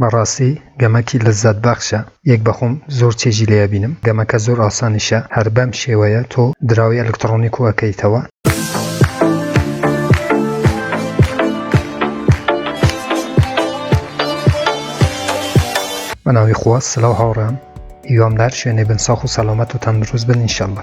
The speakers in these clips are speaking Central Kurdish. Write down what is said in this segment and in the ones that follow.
بەڕاستی گەمەکی لەزات بەخشە یەک بەخۆم زۆر چێژی لێ ئەبینم گەمەکە زۆر ئاسانیشە هەر بەم شێوەیە تۆ دراوی ئەلکتڕۆنی کو ئەکەیتەوە. بەناوی خوا سلاو هاوڕێیان هیوام لەهەر شوێنێ بن ساخ و سەلامەت و تەندروست بن انشاللە.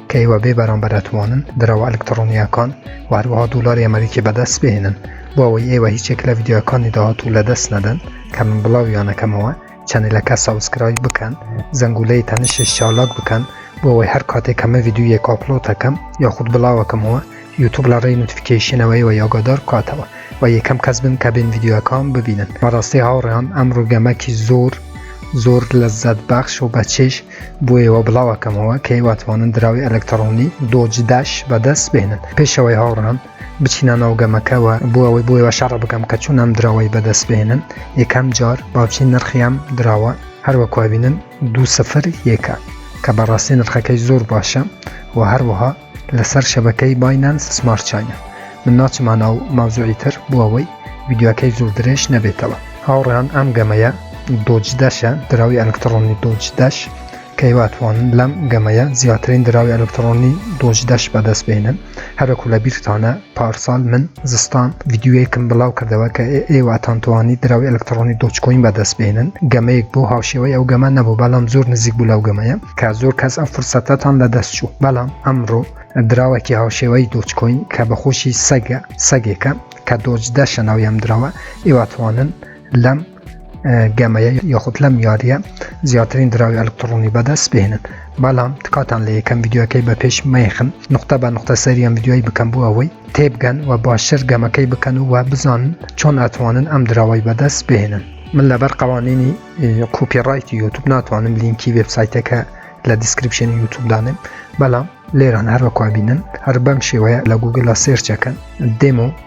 کە ئێوە بێ بەرامبەر ئەتوانن دراوە ئەلکتڕۆنییەکان و هەروەها دۆلاری ئەمەریکی بەدەست بهێنن، بۆ ئەوەی ئێوە هیچ یەک لە ڤیدیۆیەکانی داهاتوو لەدەست نەدەن کە من بڵاویان ئەکەمەوە، چەنێلەکە سەبسکرایب بکەن، زەنگولەی تەنشش چالاک بکەن بۆ ئەوەی هەر کاتێک کە من ڤیدیۆیەک ئاپڵۆد ئەکەم یاخود بڵاو ئەکەمەوە یوتوب لە ڕێی نۆتفیکەیشنەوە ئێوەی ئاگادار بکاتەوە و یەکەم کەس بن کە بێن ڤیدیۆیەکەم ببینن. بەڕاستی هاوڕێیان ئەمڕۆ گەمەکی زۆر زۆر لەززەت بەخش و بەچێژ بۆ ئێوە بڵاو ئەکەمەوە کە ئێوە توانن دراوی ئەلەکتڕۆنی دۆج داش بەدەست بێنن پێش ئەوەی هاوڕان بچینە ناو گەمەکەوە بۆ ئەوەی بۆ ئێوە شەڕ بکەم کە چون ئەم دراوەی بەدەست بێنن یەکەم جار باوچی نرخیام دراوە هەروەکوبینن دو سفر یەکە کە بەڕاستی نرخەکەی زۆر باشە و هەروەها لەسەر شەبەکەی باینانس سمارت چاینە من ناچمە ناو ماوزوعی تر بۆ ئەوەی ویددیوەکەی زۆر درێژ نەبێتەوە هاوڕیان ئەم گەمەیە دۆج دەشە دراوی ئەلکتڕۆنی دۆج دەش کەیواتوانن لەم گەمەیە زیاترین دراوی ئەلکتڕۆنی دۆج دەش بەدەست بێنن هەرەکو لە بیرتانە پارسال من زستان ڤیدیۆیەکم بڵاو کردەوە کە ئێوەتان توانی دراوی ئەلکترۆنی دۆچکۆین بەدەست بێنن گەمەیەک بۆ هاوشێوەی ئەو گەمە نەبوو بەڵام زۆر نزیک بوو لەو گەمەیە کە زۆر کەس ئەم فرسەتەتان لە دەست چوو بەڵام ئەمڕۆ دراوەکی هاوشێوەی دۆچکۆین کە بەخۆشی سەگە سەگێکە کە دۆج دەشە ناویان دراوە ئێوە توانن لەم گەمەیە یاخود لەم یاریە زیاترین دراوی ئەلکترۆنی بەدەست بهێنن بەڵام تکاتان لە یەکەم یددیوەکەی بە پێش مەیخن نقطە بە نقطە سەریان یددیوی بکەم بوو ئەوەی تێبگەن و باشتر گەمەکەی بکەن و وە بزان چۆن ئەتوانن ئەم دراوای بەدەست بهێنن من لەبەر قوانینی کوپی ڕایتی یوتوب ناتوانم لینکی وبسایتەکە لە دیسکرپشن یوتوبدانێن بەڵام لێران هەروەکوبینن هەر بەم شێوەیە لە گوگلا سێرچەکەن دێمە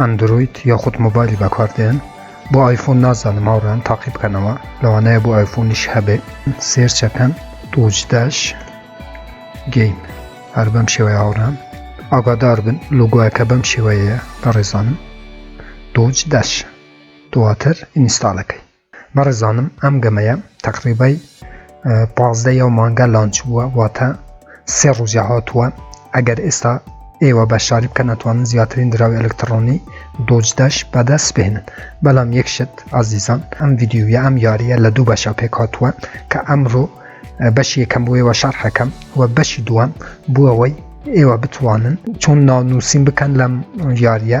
ئەندرۆید یاخود مۆبایلی بەکاردێن بۆ ئایفۆن نازانم هاوڕێیان تاقی بکەنەوە لەوانەیە بۆ ئایفۆنیش هەبێت سێرچەکەن تۆجداش گەیم هەر بەم شێوەیە هاوڕان ئاگادار بن لۆگوایەکە بەم شێوەیە بەڕێزانم تۆجداش دواتر ئینستاالەکەی بەڕێزانم ئەم گەمەیە تەقریبای پازدە یەو مانگە لانچ بووە واتە سێ ڕوژە هاتووە ئەگەر ئێستا ئێوە بە شاری بکە ناتوانن زیاترین دراوی ئەلکترۆنی دۆجدەش بەدەست بهێنن بەڵام یەکشت ئازیزان ئەم یددیوە ئەم یاریە لە دوو بەشە پێک هاتووە کە ئەمڕۆ بەشی یەکەم بۆیەوە شەرحەکەم و بەشی دووەم بووەوەی ئێوە بتوانن چۆن ناونووسین بکەن لەم یاریە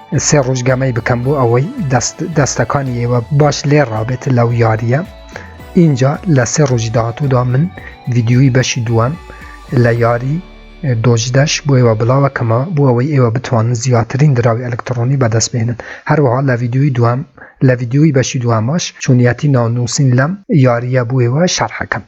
سێ ڕۆژ گەمەی بکەم بۆ ئەوەی دەستەکانی ئێوە باش لێ ڕابێت لەو یاریە اینجا لە سێ ڕۆژی داهاتوودا من ڤیددیوی بەشی دووەم لە یاری دۆژدەش بۆ ئێوە بڵاوە کەمە بۆ ئەوەی ئێوە بتوانن زیاترین دراوی ئەلکترۆنی بەدەست بێنن هەروەها لە ڤیددیوی دوام لە ڤیددیوی بەشی دواماش چونیەتی ناونووسین لەم یاریە بۆ ئێوە شەرحەکەم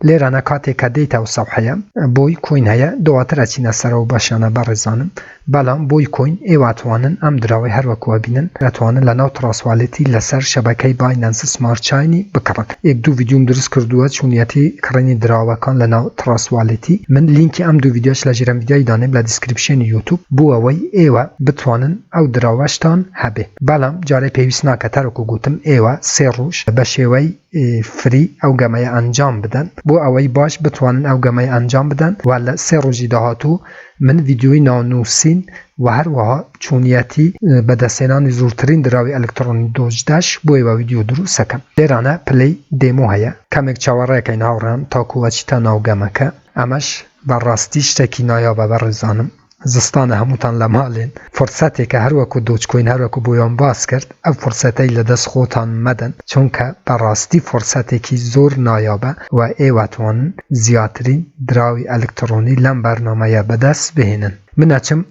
لێرانە کاتێ کە دێیت ئەو سەوحەیە بۆی کۆین هەیە دواتر ئەچینە سەرەوە بەشیانە بەڕێزانم بەڵام بۆی کۆین ئێواتوانن ئەم دراوەی هەروەکوە بینن ئەتوانن لە ناو تڕاسوالیتی لەسەر شەبەکەی باینەنس سمارت چاینی بکڕن ئێک دوو ڤیدیۆم دروست کردووە چونیەتی کڕینی دراوەکان لە ناو تڕاسوالیتی من لینکی ئەم دوو ڤیدیۆش لە ژێرم ڤیدیۆی دانێم لە دیسکریپشێنی یوتوب بۆ ئەوەی ئێوە بتوانن ئەو دراوەشتان هەبێ بەڵام جارێ پێویست ناکە تەرکو گوتم ئێوە سێ ڕوژ بە شێوەی ی فری ئەو گەمەیە ئەنجام بدەن بۆ ئەوەی باش بتوانن ئەو گەمەیە ئەنجام بدەن وە لە سێ ڕۆژی داهاتوو من ڤیدیۆی ناو نوسین وە هەروەها چۆنیەتی بەدەستهێنانی زورترین دراوی ئەلکتڕۆنی دۆج داش بۆ ئێوە ڤیدیۆ دروست ئەکەم لێرانە پلەی دێمۆ هەیە کەمێک چاوەڕێکەین هاوڕێیان تاکو ئەچیتە ناو گەمەکە ئەمەش بەڕاستی شتێکی نایابە بەڕێزانم زستانە هەمووتان لە مالێن فرسەتێکە هەروەکو دۆجکۆین هەروەکو بۆیان باس کرد ئەو فرسەتەی لە دەست خۆتان مەدەن چونکە بەڕاستی فرسەتێکی زۆر نایابە و ئێوەتوانن زیاترین دراوی ئەلکتڕۆنی لەم بەرنامەیە بەدەست بهێنن من ئەچم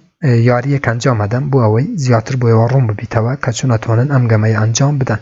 یاریەک ئەنجام ئەدەم بۆ ئەوەی زیاتر بۆ ئێوە ڕوون ببیتەوە کە چۆن ئەتوانن ئەم گەمەیە ئەنجام بدەن.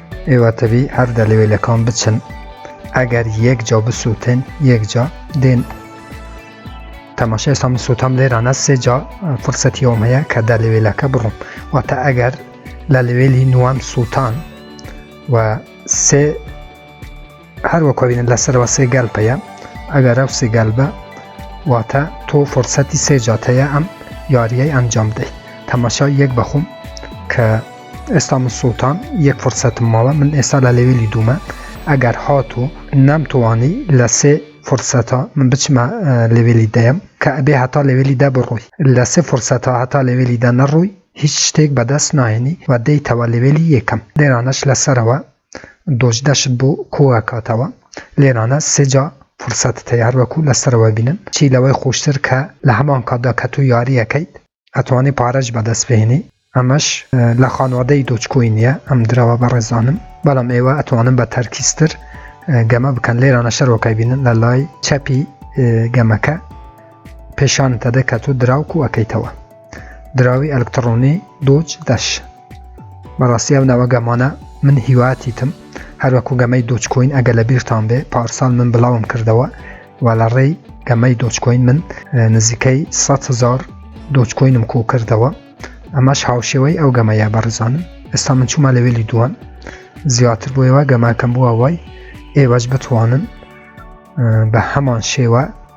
ئێوە تەبی هەر دەلەوێ لە کام بچن ئەگەر یەک جا بسووتن یەک جا دێن تەماشای سام سووتام لێرانە سێ جا فرسەتی ئەوم هەیە کە دە لەوێلەکە بڕم واتە ئەگەر لە لەوێلی نوام سووتان و سێ هەروەک بینن لە سەرەوە سێ گەل پەیە ئەگەر ئەو سێ گەل بە واتە تۆ فرسەتی سێ جاتەیە ئەم یاریەی ئەنجام بدەیت تەماشا یەک بەخۆم کە ئێستا من سوڵتان یەک فرسەتم ماوە من ئێستا لە لەوێلی دوومە ئەگەر هات و نەمتوانی لە سێ فرسەتا من بچمە لەوێلی دەیەم کە ئەبێ هەتا لەوێلی دە بڕووی لە سێ فرسەتا هەتا لەوێلی دە نەڕووی هیچ شتێک بەدەست ناهێنی و دەیتەوە لەوێلی یەکەم لێرانەش لەسەرەوە دۆج دەشت بۆ کۆ ئەکاتەوە لێرانە سێ جا فرسەتت هەیە هەر وەکو لە سەرەوە بینن چی لەوەی خۆشتر کە لە هەمان کاتدا کە تۆ یاری ئەکەیت ئەتوانی پارەش بەدەست بهێنی ئەمەش لە خانوادەی دۆج کۆین نیە ئەم درەوە بەڕێزانم بەڵام ئێوە ئەتوانن بە تەرکیزتر گەمە بکەن لێرانە شەرۆکای بینن لە لای چەپی گەمەکە پێشانتەدە کە تۆ دراوک و ئەەکەیتەوە دراوی ئەلکتڕۆنی دۆج دەش بەڕاستی ئەو ناوە گەمانە من هیواتیتم هەروەکو گەمەی دۆچکۆین ئەگە لە بیرتان بێ پارسال من بڵاوم کردەوە و لە ڕێی گەمەی دۆچکۆین من نزیکەی 100 هزار دۆچکۆینم کۆ کردەوە ئەمەش هاوشێوەی ئەو گەمەیە بەڕزانم ئێستا من چوومە لەوێلی دووەم زیاتر بۆ ئێوە گەماکەم بووە وای ئێوەش بتوانن بە هەمان شێوە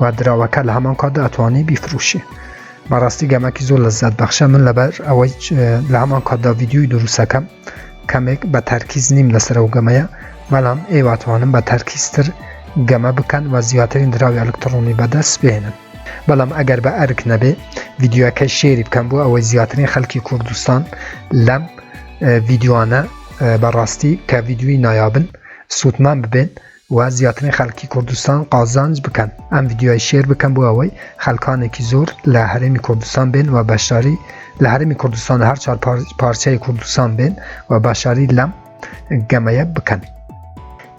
و دراوەکە لە هەمان کاتدا ئەتوانی بیفروشی بەڕاستی گەمەکی زۆر لە زیاد بەخشە من لەبەر ئەوەی لە هەمان کاتدا ڤیددیوی دروستەکەم کەمێک بە تەرکیز نیم لەسەر و گەمەیە بەڵام ئێواتوانم بە تەرکیزتر گەمە بکەن و زیاترین دراوی ئەلکترۆنی بەدەست بێنن بەڵام ئەگەر بە ئەرک نەبێ ڤیددیوەکەی شێری بکەم بۆ ئەوەی زیاترین خەلکی کوردستان لەم ڤیددیوانە بەڕاستی کە ڤیددیوی نایابن سووتمان ببێن و زیاترین خەلکی کوردستان قازانج بکەن ئەم ڤیدیۆیە شێر بکەن بۆ ئەوەی خەلکانێکی زۆر لە هەرێمی کوردستان بێن و بەشداری لە هەرێمی کوردستان هەر چوار پارچەی کوردستان بێن و باشاری لەم گەمەیە بکەن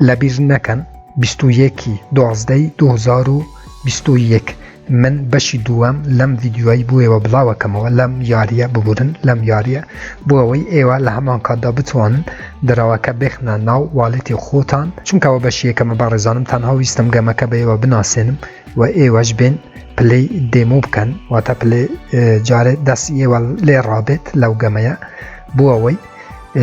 لەبیر نەکەن 21 دوازدەی 2021 من بەشی دووەم لەم ڤیددیوای بۆیەوە بڵاوەکەمەوە لەم یاریە ببورن لەم یاریە بۆ ئەوەی ئێوە لە هەمان کاتدا بتوانن دراوەکە بخنە ناو والێتی خۆتان چونکەەوە بەشیەکەمە بە ڕێزانم تەنها ویستم گەمەکە بەیەوە بناسێنم و ئێوەش بێن پلەی دێمۆ بکەن واتە پلێ جارێ دەست ئێوە لێ ڕابێت لەو گەمەیە بۆ ئەوەی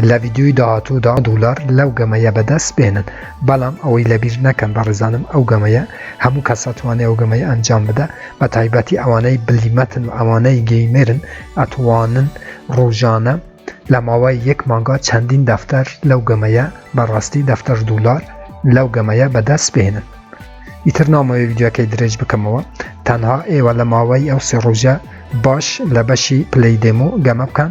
لە ڤیدیۆی داهاتوودا دولار لەو گەمەیە بەدەست بێنن بەڵام ئەوەی لەبیر نەکەن بەڕێزانم ئەو گەمەیە هەموو کەسەتوانێ ئەو گەمەی ئەنجام بدە بە تایبەتی ئەوانەی بلیمەتن و ئەوانەی گەیمێرن ئەتوانن ڕۆژانە لە ماوەی یەک مانگا چەندین دەفتەر لەو گەمەیە بەڕاستی دەفتەر دولار لەو گەمەیە بەدەست بێنن ئیتر نامەوەی ویددیوەکەی درێژ بکەمەوە تەنها ئێوە لە ماوەی ئەو سێ ڕۆژە باش لە بەشی پلەی دێمو گەمە بکەن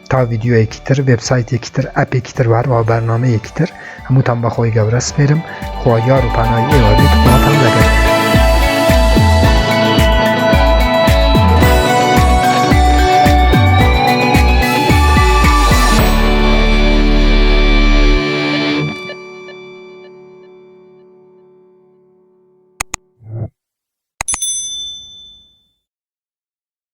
تا ڤیددیوەیەکی تر وبسایتێکی تر ئەپێکی تر وهروە بەرنمەیەکی تر هەمووتان بەخۆی گەورە سپێرم خوا یار و پانایی ئێوە بێت خواتان لەگەر